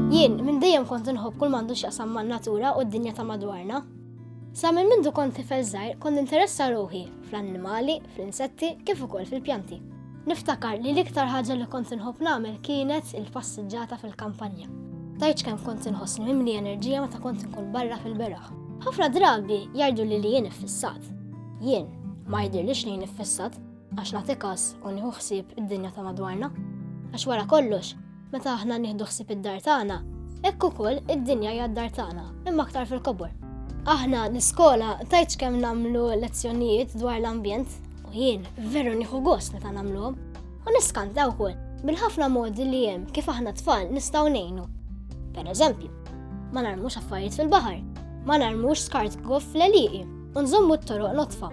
Jien, minn dejjem kont inħobb kull m'għandu x'jaqsam man-natura u d-dinja ta' madwarna. Sa minn mindu kont tifel żgħir kont interessa ruħi fl-annimali, fl-insetti, kif ukoll fil-pjanti. Niftakar li l-iktar ħaġa li kont inħobb nagħmel kienet il-passiġġata fil-kampanja. Tajċ kemm kont inħossni mimli enerġija meta kont inkun barra fil-beraħ. Ħafna drabi jgħidu li li jien iffissat. Jien, ma jidhirlix li jien iffissat, Għax nagħti każ u nieħu ħsieb id-dinja ta' madwarna. Għax wara kollox, meta aħna nieħdu ħsieb id-dar tagħna, hekk ukoll id-dinja hija d-dar tagħna, imma aktar fil-kobor. Aħna l-iskola tajtx kemm nagħmlu lezzjonijiet dwar l-ambjent u jien veru nieħu gost meta nagħmluhom u niskanta wkoll bil-ħafna modi li hemm kif aħna tfal nistgħu ngħinu. Per eżempju, ma narmux affarijiet fil-baħar, ma narmux skart goff fl-eliqi, u nżommu t-toroq notfa.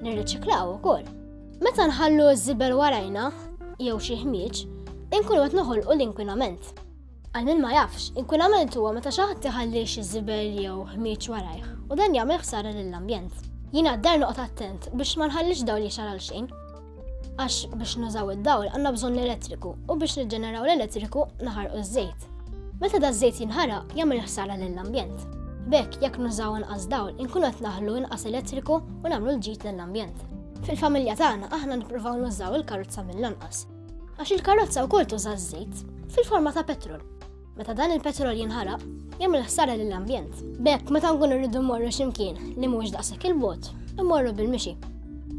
Nirriċiklaw ukoll. Meta nħallu ż-żibel warajna jew xi ħmieġ, inkunu qed noħolqu l-inkwinament. Għal min ma jafx, inkwinament huwa meta xi ħadd iħalli xi żibel jew ħmieġ warajh u dan jagħmel ħsara lill-ambjent. Jien għad-dar noqgħod attent biex ma nħallix dawl jixgħal għal xejn. Għax biex nużaw id-dawl għandna bżonn l-elettriku u biex niġġeneraw l-elettriku naħarqu ż-żejt. Meta da żejt jinħaraq jagħmel ħsara lill-ambjent. Bekk jekk nużaw inqas dawl inkun qed naħlu inqas elettriku u nagħmlu l-ġid lill-ambjent. Fil-familja tagħna aħna nippruvaw nużaw il-karozza mill-anqas. Għax il-karozza wkoll tuża ż-żejt fil-forma ta' petrol. Meta dan il-petrol jinħaraq, jagħmel ħsara lill-ambjent. B'hekk meta nkun irridu mmorru x'imkien li mhux daqshekk il-bot, immorru bil-mixi.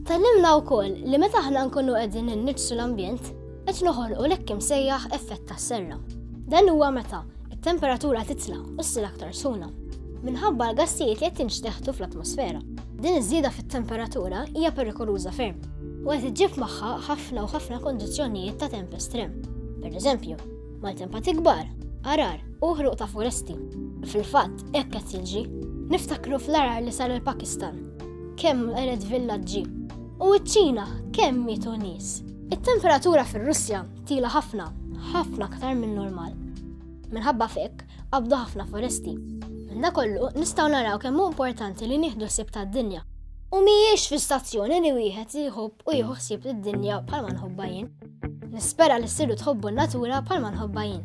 Tallimna wkoll li meta aħna nkunu qegħdin inniġsu l-ambjent, qed noħolqu lekk imsejjaħ effett tas-serra. Dan huwa meta it-temperatura titla' u ssir aktar suna minħabba l-gassijiet li qed tinxteħtu fl-atmosfera. Din iż-żieda fit-temperatura hija perikoluża ferm u qed iġġib magħha ħafna u ħafna kondizzjonijiet ta' temp estrem. Per eżempju, Maltempati kbar, arar u ħruq ta' foresti. Fil-fatt, hekk qed jiġi. Niftakru fl-arar li sar il-Pakistan. Kemm qered villaġġi. U ċ-Ċina kemm mietu nies. It-temperatura fir-Russja tila ħafna, ħafna aktar minn normal. Minħabba fekk, qabdu ħafna foresti. Minna kollu, nistaw naraw kemm hu importanti li nieħdu sib tad-dinja. U mhijiex fi stazzjoni li wieħed jħobb u jieħu ħsieb id dinja bħalma nħobba jien. Nispera li ssiru tħobbu n-natura bħalma nħobba jien.